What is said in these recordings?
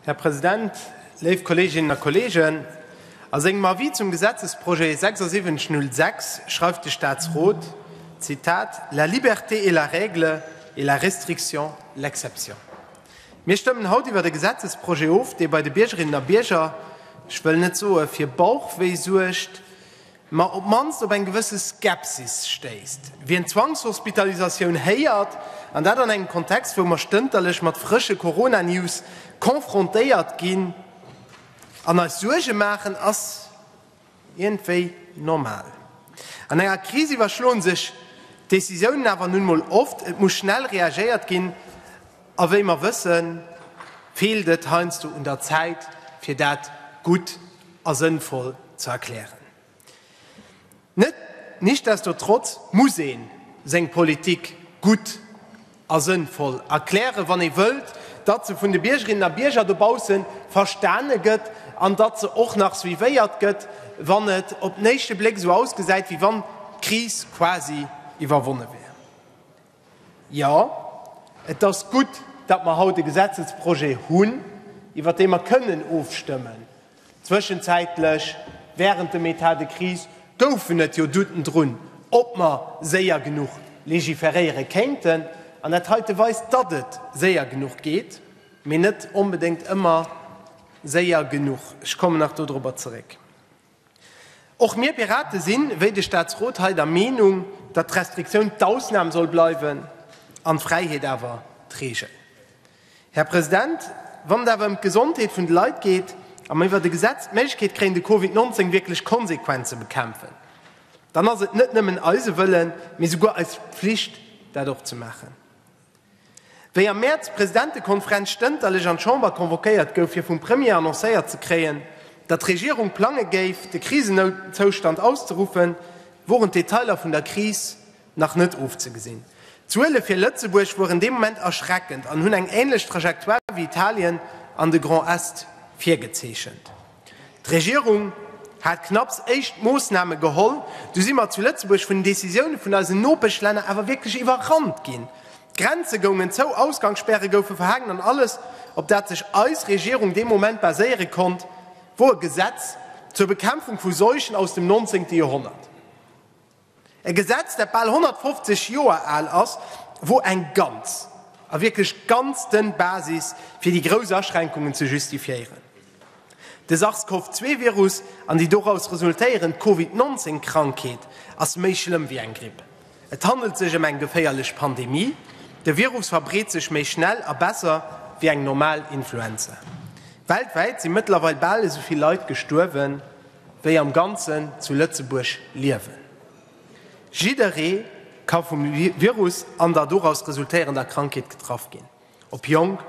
Här President, léif Kolleeginnen a Kolleegen, a sengem Avis zum Gesetzesprojet 7606 schreift de Statsrot, Zitat, La liberté est la règle et la restriction l'exception. Mir stëmmen haut iwwert e Gesetzesprojet of, dee bei de Biergerinnen a Bierger, ech wëll net soe fir Bauchwéi suergt, ma op d'mannst op eng gewësse Skepsis stéisst, wien d'Zwangshospitalisatioun héiert, an dat an engem Kontext, wou mer stënterlech mat frësche Corona-News confrontéiert ginn an eis Suerge maachen, ass iergendwéi normal. An enger Kris iwwerschloen sech d'Décisiounen awer nun mol oft, et muss schnell reagéiert ginn, a wéi mer wëssen, feelt et heiansdo un der Zäit, fir dat gutt. a sënnvoll ze erklären. Net nichtsdestotrotz muss ee seng Politik gutt a sënnvoll erklären, wann ee wëllt, datt se vun de Biergerinnen a Bierger dobausse verstane gëtt an datt se och nach suivéiert gëtt, wann et op den éischte Bléck esou ausgesäit, wéi wann d'Kris quasi iwwerwonne wär. Jo, et ass gutt, datt mer haut e Gesetzesprojet hunn, iwwert dee mer kënnen ofstëmmen. Zwëschenzäitlech, während dem État de crise, goufen et jo Douten drun, ob mer séier genuch legiferéiere kéinten. An dat heite weist, datt et séier genuch geet, mee net onbedéngt ëmmer séier genuch. Ech kommen nach do dorobber zeréck. Och mir Pirate sinn, wéi de Staatsrot hei, der Meenung, datt d'Restriktioun d'Ausnam soll bleiwen an d'Fräiheet awer d'Reegel. Här President, wann et awer ëm d'Gesondheet vun de Leit geet a mer iwwert e Gesetz d'Méiglechkeet kréien, de Covid 19 wierklech konsequent ze bekämpfen, dann ass et net nëmmen eise Wëllen, mee souguer eis Pflicht, dat och ze maachen. Wéi am Mäerz d'Presidentekonferenz stënterlech an d'Chamber convoquéiert gouf, fir vum Premier annoncéiert ze kréien, datt d'Regierung plange géif, de Krisenoutzustand auszeruffen, woren d'Detailer vun der Kris nach net erofzegesinn. D'Zuele fir Lëtzebuerg woren dee Moment erschreckend an hunn eng änlech Trajectoire wéi Italien an de Grand Est virgezeechent. D'Regierung hat knapps éischt Moossname geholl, du si mer zu Lëtzebuerg vun den Decisioune vun eisen Nopeschlänner awer wierklech iwwerrannt ginn. D'Grenze goungen zou, Ausgangsspäre goufe verhaangen an alles, op dat sech eis Regierung dee Moment baséiere konnt, wor e Gesetz zur Bekämpfung vu Seuchen aus dem 19. Joerhonnert. E Gesetz, dat bal 150 Joer al ass, wor eng ganz, a wierklech ganz dënn Basis fir déi grouss Aschränkungen ze justifiéieren. De Sars-Cov-2-Virus an déi doraus resultéierend Covid 19 Krankheet ass méi schlëmm wéi eng Gripp. Et handelt sech ëm eng geféierlech Pandemie, de Virus verbreet sech méi schnell a besser wéi eng normal Influenza. Weltwäit si mëttlerweil bal esou vill Leit gestuerwen. wéi am Ganzen zu Lëtzebuerg liewen. Jidderee ka vum Virus an der doraus resultéierender Krankheet getraff ginn, ob jonk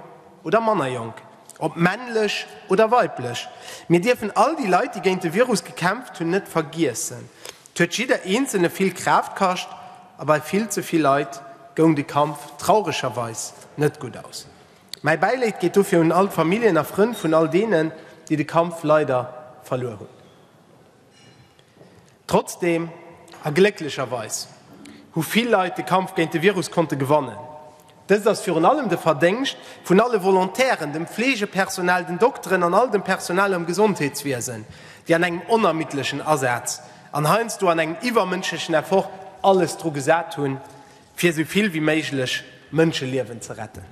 oder manner jonk, ob männlech oder weiblech. Mir dierfen all déi Leit, déi géint de Virus gekämpft hunn, net vergiessen. Et huet jidder Eenzelne vill Kraaft kascht a bei vill ze vill Leit goung de Kampf trauregerweis net gutt aus. Mäi Bäileed geet dofir un all d'Familljen a Frënn vun all deenen, déi de Kampf leider verluer hunn. Trotzdeem, a glécklecherweis, hu vill Leit de Kampf géint de Virus konnte gewannen. Dëst ass virun allem de Verdéngscht vun alle Volontairen, dem Fleegepersonal, den Dokteren an all dem Personal am Gesondheetswiesen, déi an engem onermiddlechen Asaz an heiansdo an engem iwwermënschlechen Effort alles dru gesat hunn, fir esou vill wéi méiglech Mënscheliewen ze retten.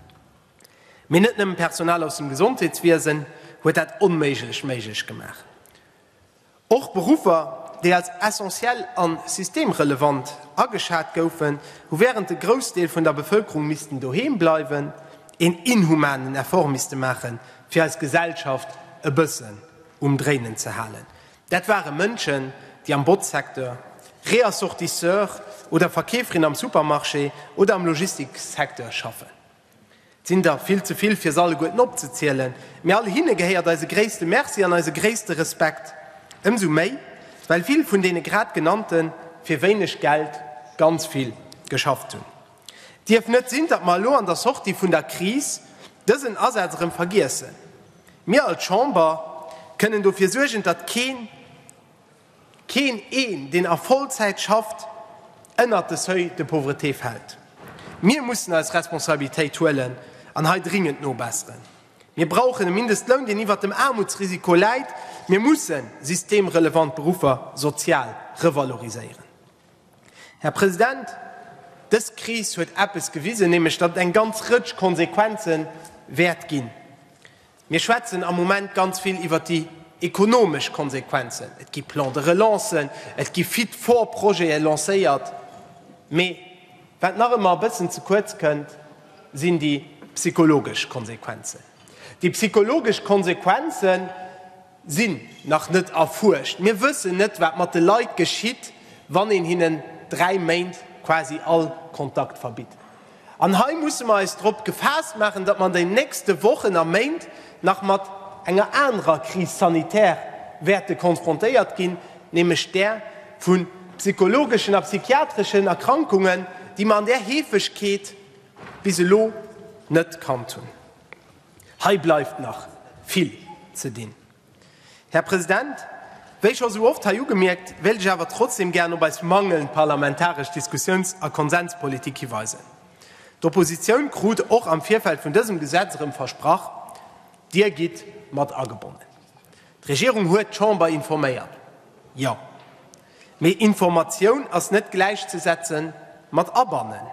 Mee net nëmmen Personal aus dem Gesondheetswiesen huet dat Onméiglecht méiglech gemaach. Och Beruffer, déi als essentiell a systemrelevant ageschat goufen, hu wärend de Groussdeel vun der Bevëlkerung missten doheem bleiwen, een inhumanen Effort misste maachen, fir eis Gesellschaft e bëssen um Dréinen ze halen. Dat ware Mënschen, déi am Botzsecteur, Reassortisseur oder Verkeeferin am Supermarché oder am Logistiksecteur schaffen. Et sinn der vill ze vill, fir se alleguerten opzezielen, mee all hinne gehéiert eise gréisste Merci an eise gréisste Respekt, ëmsou méi, well vill vun deene grad Genannte fir wéineg Geld ganz vill geschafft hunn. Et dierf net sinn, datt mer elo an der Sortie vun der Kris dësen Asaz erëm vergiessen. Mir als Chamber kënnen dofir suergen, datt keen, keen een, deen a Vollzäit schafft, ënnert de Seuil de pauvreté fält. Mir mussen eis Responsabilitéit huelen an hei dringend nobesseren. Mir brauchen e Mindestloun, deen iwwert dem Aarmutsrisiko läit. Mir mussen systemrelevant Beruffer sozial revaloriséieren. Här President, dës Kris huet eppes gewisen, nämlech datt et eng ganz Rëtsch Konsequenze wäert ginn. Mir schwätzen am Moment ganz vill iwwert déi ekonomesch Konsequenzen. Et gi Plans de relancen, et gi Fit-for-Projete lancéiert. Mee wat nach ëmmer e bëssen ze kuerz kënnt, sinn déi psychologesch Konsequenzen. Déi psychologesch Konsequenzen, sinn nach net erfuerscht. Mir wëssen net, wat mat de Leit geschitt, wann een hinnen dräi Méint quasi all Kontakt verbitt. An hei musse mer eis drop gefaasst maachen, datt mer an den nächste Wochen a Méint nach mat enger anerer Crise sanitaire wäerte konfrontéiert ginn, nämlech där vu psychologeschen a psychiatreschen Erkrankungen, déi mer an där Heefegkeet bis elo net kannt hunn. Hei bleift nach vill ze dinn. Här President, wéi scho sou oft hei ugemierkt, wéilt ech awer trotzdem gären op eis mangelnd parlamentaresch Diskussiouns a Konsenspolitik hiweisen. D'Oppositioun krut och am Virfeld vun dësem Gesetz erëm versprach, Dir gitt mat agebonnen. D'Regierung huet d'Chamber informéiert. Jo. Mee Informatioun ass net gläichzesetze mat abannen.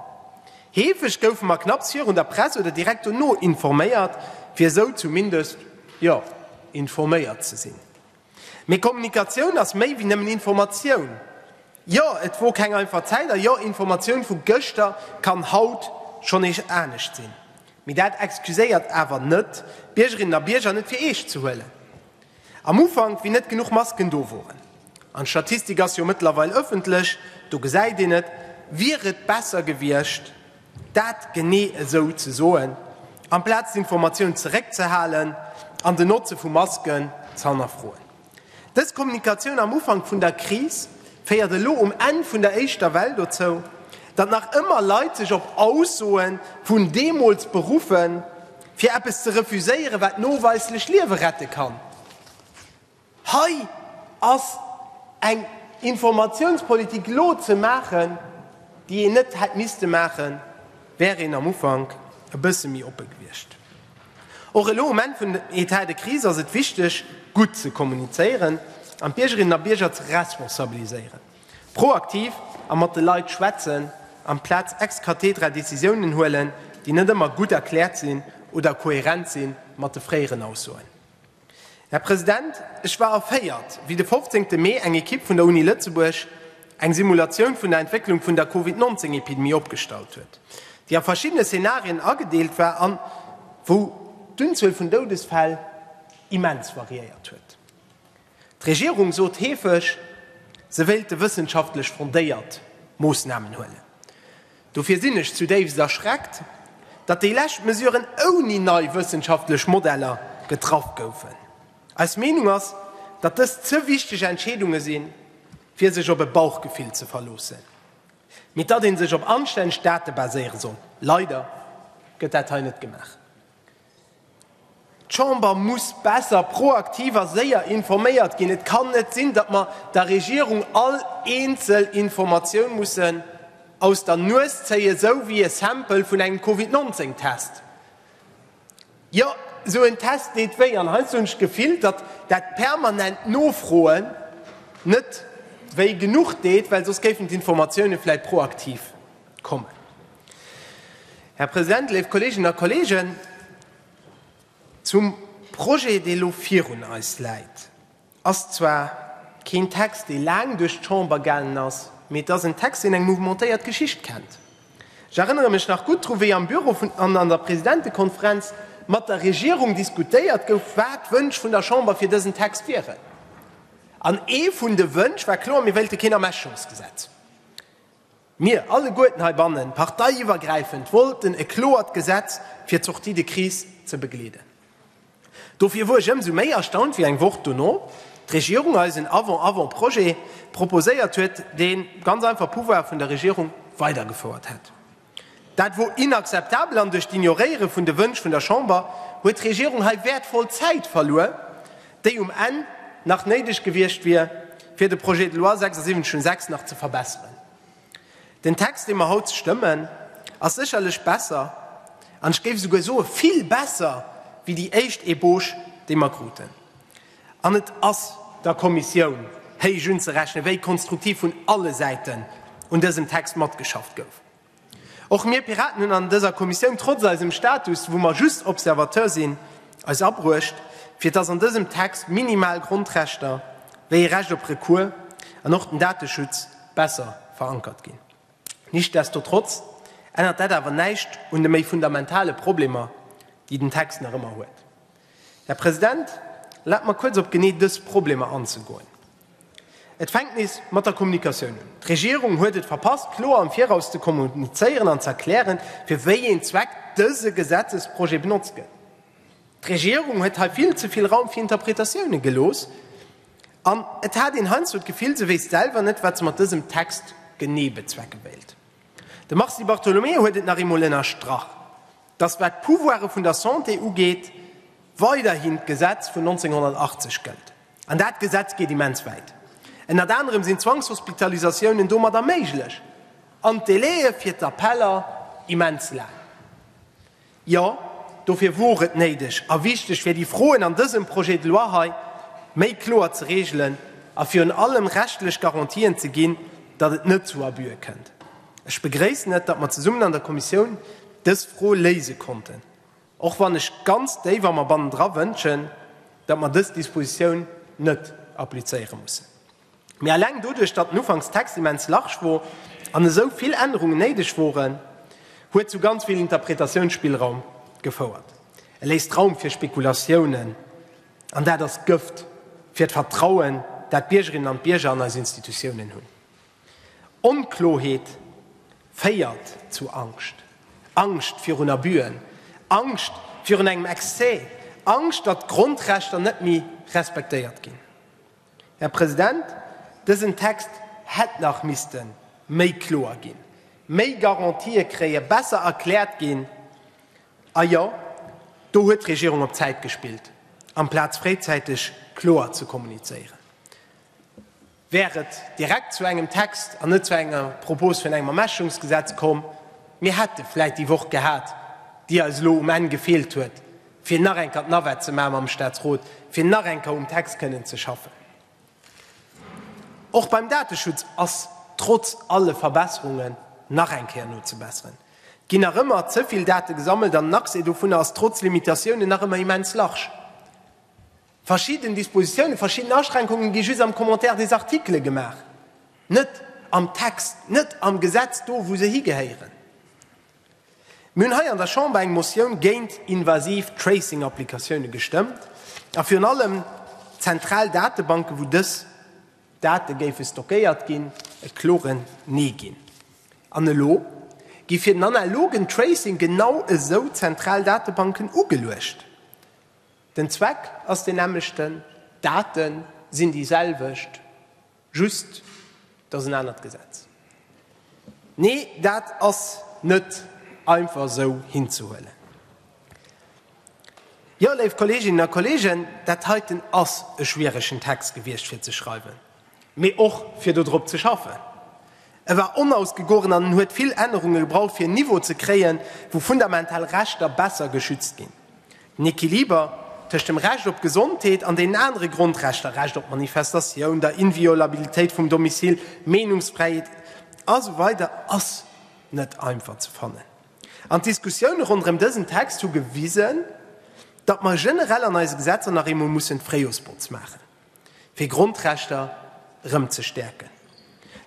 Heefeg goufe mer knapps virun der Press oder direkt dono informéiert, fir esou zumindest, jo, informéiert ze sinn. Mee Kommunikatioun ass méi wéi nëmmen Informatioun. Jo, et wor keng einfach Zäit a jo, Informatioun vu gëschter kann haut schonn eech anescht sinn. Mee dat excuséiert awer net, d'Biergerinnen a Bierger net fir eescht ze huelen. Am Ufank, wéi net genuch Masken do woren, an d'Statistik ass jo mëttlerweil ëffentlech, do gesäit een et, wier et besser gewiescht, dat genee esou ze soen, amplaz d'Informatioun zeréckzehalen an den Notze vu Masken ze hannerfroen. Dës Kommunikatioun am Ufank vun der Kris féiert elo um Enn vun der éischter Well dozou, datt nach ëmmer Leit sech op Aussoe vun deemools beruffen, Fir eppes ze refuséieren, wat noweislech Liewe rette kann. Hei ass eng Informatiounspolitik elo ze maachen, déi een net hätt misste maachen, wär een am Ufank e bësse méi oppe gewiescht. Och elo um Enn vun dem Etat de crise ass et wichteg, gutt ze kommunizéieren an d'Biergerinnen a Bierger ze responsabiliséieren. Proaktiv a mat de Leit schwätzen, amplaz ex cathedra Decisiounen huelen, déi net ëmmer gutt erkläert sinn oder kohärent si mat de fréieren Aussoen. Här President, ech war erféiert, wéi de 15 Mee eng Ekipp vun der Uni Lëtzebuerg eng Simulatioun vun der Entwécklung vun der Covid 19 Epidemie opgestallt huet, déi a verschiddene Szenarien agedeelt war an wou d'Unzuel vun Doudesfäll immens variéiert huet. D'Regierung sot heefeg, se wéilte wëssenschaftlech fondéiert Moossnamen huelen. Dofir sinn ech zudéifst erschreckt, datt déi lescht Mesuren ouni nei wëssenschaftlech Modeller getraff goufen. Eis Meenung ass, datt dëst ze wichteg Entscheedunge sinn, fir sech op e Bauchgefill ze verloossen, mee datt ee sech op anstänneg Date baséiere soll. Leider gëtt dat hei net gemaach. D'Chamber muss besser, proaktiv a séier informéiert ginn. Et kann net sinn, datt mer der Regierung all eenzel Informatioun mussen aus der Nues zéien, esou wéi e Sample vun engem Covid 19 Test. Jo, esou en Test deet wéi. An heiansdo hunn ech d'Gefill, datt dat permanent Nofroen net wéi genuch deet, well soss géifen d'Informatiounen vläicht proaktiv kommen. Här President, léif Kolleeginnen a Kolleegen, zum Projet, dee elo virun eis läit, ass zwar keen Text, dee laang duerch d'Chamber gaangen ass, mee et ass en Text, deen eng mouvementéiert Geschicht kennt. Ech erënnere mech nach gutt dru wéi am Büro vun an an der Presidentekonferenz mat der Regierung diskutéiert gouf, wat d'Wënsch vun der Chamber fir dësen Text wieren. An ee vun de Wënsch war kloer, mir wéilte keen Ermächungsgesetz. Mir alleguerten heibannen, parteiiwwergräifend, wollten e kloert Gesetz fir d'Sortie de crise ze begleeden. Dofir wor ech ëmsou méi erstaunt, wéi eng Woch dono d'Regierung eis en Avant-avant-Projet proposéiert huet, dee ganz einfach d'Pouvoire vun der Regierung weidergefouert hätt. Dat wor inakzeptabel an duerch d'Ignoréiere vun de Wënsch vun der Chamber huet d'Regierung hei wäertvoll Zäit verluer, déi um Enn nach néideg gewiescht wier, fir de Projet de loi 76 un 6 nach ze verbesseren. Den Text, dee mer haut stëmmen, ass sécherlech besser, an ech géif esouguer soe vill besser wéi déi éischt Ébauche, déi mer kruten. An et ass der Kommissioun héich unzerechnen, wéi konstruktiv vun alle Säiten un dësem Text matgeschafft gouf. Och mir Piraten hunn an dëser Kommissioun, trotz eisem Status, wou mer just Observateur sinn, eis abruecht, fir dass an dësem Text minimal Grondrechter, wéi ee Recht op Recours an och den Dateschutz, besser verankert ginn. Nichtsdestotrotz ännert dat awer näischt un de méi fundamentale Problemer, déi den Text nach ëmmer huet. Här President, erlaabt mer, kuerz op genee dës Problemer anzegoen. Et fänkt nees mat der Kommunikatioun un. D'Regierung huet et verpasst, kloer am Viraus ze kommunizéieren an ze erklären, fir wéi een Zweck dëse Gesetzesprojet benotzt gëtt. D'Regierung huet hei vill ze vill Raum fir Interpretatiounen gelooss an et hat een heiansdo d'Gefill, se wéisst selwer net, wat se mat dësem Text genee bezwecke wéilt. De Mars Di Bartolomeo huet et nach eemol ënnerstrach, dass, wat d'Pouvoire vun der Santé ugeet, weiderhin d'Gesetz vun 1980 gëllt. An dat Gesetz geet immens wäit. Ënnert anerem sinn Zwangshospitalisatiounen domadder méiglech. An d'Délaië fir d'Appeller immens laang. Jo, dofir wor et néideg a wichteg, fir déi Froen an dësem Projet de loi hei méi kloer ze reegelen a virun allem rechtlech Garantien ze ginn, datt et net zu Abüe kënnt. Ech begréissen et, datt mer zesummen an der Kommissioun dës Fro léise konnten. Och wann ech ganz déif a mer bannendra wënschen, datt mer dës Dispositioun net applizéiere mussen. Mee eleng doduerch, datt den Ufankstext immens large wor an esou vill Ännerungen néideg woren, huet zu ganz vill Interpretatiounsspillraum gefouert. E léisst Raum fir Spekulatiounen an dat ass Gëft fir d'Vertrauen, dat d'Biergerinnen an d'Bierger an eis Institutiounen hunn. Onkloheet féiert zu Angscht. Angscht virun Abuen, Angscht virun engem Excès, Angscht, datt d'Grondrechter net méi respektéiert ginn. Här President, dësen Text hätt nach misste méi kloer ginn, méi Garantië kréien, besser erkläert ginn. A jo, do huet d'Regierung op Zäit gespillt, amplaz fréizäiteg kloer ze kommunizéieren. wär et direkt zu engem Text an net zu enger Propos vun engem Ermächungsgesetz komm. Mir hätte vläit déi Woch gehat, déi eis elo um Enn gefeelt huet, fir nach eng Kéier d'Navette ze maachen mam Statsrot, fir nach eng Kéier um Text kënnen ze schaffen. Och beim Dateschutz ass trotz alle Verbesserungen nach eng Kéier nozebesseren. Et ginn nach ëmmer ze vill Date gesammelt an den Accès dovunner ass trotz Limitatiounen nach ëmmer immens large. Verschidden Dispositiounen, verschidden Aschränkungen gi just am Commentaire des articles gemaach, net am Text, net am Gesetz, do wou se higehéieren. Mir hunn hei an der Chamber eng Motioun géint invasiv Tracing-Applikatiounen gestëmmt a virun allem zentral Datebanken, wou dës Date géife stockéiert ginn, e klore Nee ginn. An elo gi fir den analogen Tracing genau esou zentral Datebanken ugeluecht. Den Zweck ass deen nämmlechten, d'Date sinn déi selwecht, just et ass en anert Gesetz. Nee, dat ass net einfach esou hinzehuelen. Jo, léif Kolleeginnen a Kolleegen, dat heiten ass e schwieregen Text gewiescht fir ze schreiwen. mee och fir do drop ze schaffen. E war onausgegoren an en huet vill Ännerunge gebraucht, fir en Niveau ze kréien, wou fundamental Rechter besser geschützt ginn. Den Equiliber tëscht dem Recht op Gesondheet an deenen anere Grondrechter, Recht op Manifestatioun, der Inviolabilitéit vum Domicile, Meenungsfräiheet, a sou weider ass net einfach ze fannen. An d'Diskussioune ronderëm dësen Text hu gewisen, datt mer generell an eise Gesetzer nach eemol mussen d'Fréijoersbotz maachen. fir Grondrechter erëm ze stäerken.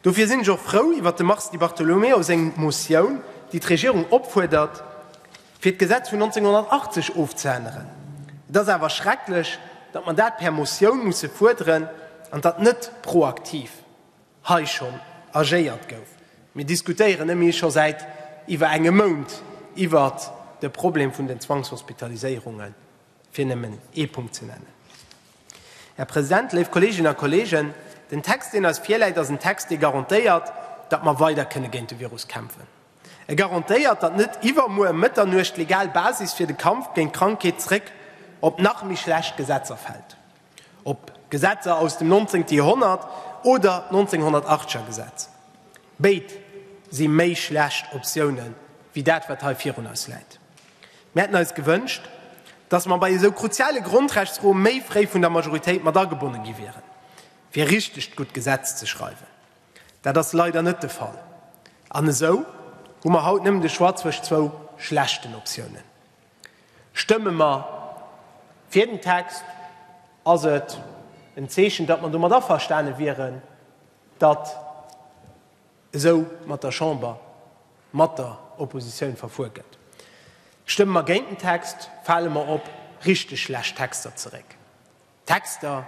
Dofir sinn ech och frou iwwert dem Mars Di Bartolomeo seng Motioun, déi d'Regierung opfuerdert, fir d'Gesetz vun 1980 ofzeänneren. Et ass awer schrecklech, datt mer dat per Motioun musse fuerderen an datt net proaktiv hei schonn agéiert gouf. Mir diskutéieren ëmméi scho säit iwwer engem Mount iwwer de Problem vun den Zwangshospitaliséierungen, fir nëmmen ee Punkt ze nennen. Här President, léif Kolleeginnen a Kolleegen, den Text, deen eis virläit, ass en Text, dee garantéiert, datt mer weider kënne géint de Virus kämpfen. E garantéiert, datt net iwwermuer ëm Mëtternuecht d'legal Basis fir de Kampf géint d'Krankheet zréck op nach méi schlecht Gesetzer fält, op Gesetzer aus dem nonzéngte Joerhonnert oder d'Nonzénhonnertachteger Gesetz. Béid si méi schlecht Optiounen, wéi dat, wat hei virun eis läit. Mir hätten eis gewënscht, dass mer bei esou kruziale Grondrechtsfroe méi fréi vun der Majoritéit mat agebonne gi wieren, fir e richtegt gutt Gesetz ze schreiwen. Dat ass leider net de Fall. An esou hu mer haut nëmmen de Choix zwëscht zwou schlechten Optiounen. Stëmme mer fir den Text, ass et en Zeechen, datt mer domat averstane wieren, datt. esou mat der Chamber, mat der Oppositioun verfuer gëtt. Stëmme mer géint den Text, fale mer op richteg schlecht Texter zeréck, Texter,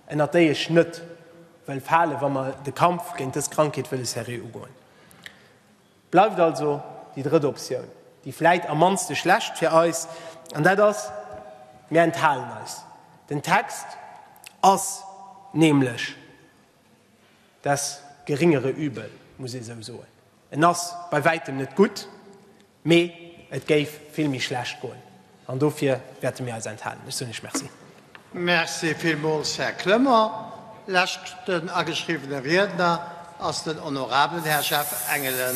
ënnert déi ech net wëll falen, wa mer de Kampf géint dës Krankheet wëlle seriö ugoen. Bleift also déi drëtt Optioun, déi vläit am mannste schlecht fir eis, an dat ass, Mir enthalen eis. Den Text ass nämlech. Das geringere Übel, muss ee sou soen. En ass bei wäitem net gutt, mee et géif vill méi schlecht goen. An dofir wäerte mir eis enthalen. Ech soen Iech Merci. Merci villmools, Här Clement. Leschten ageschriwwene Riedner ass den honorabelen Här Jeff Engelen.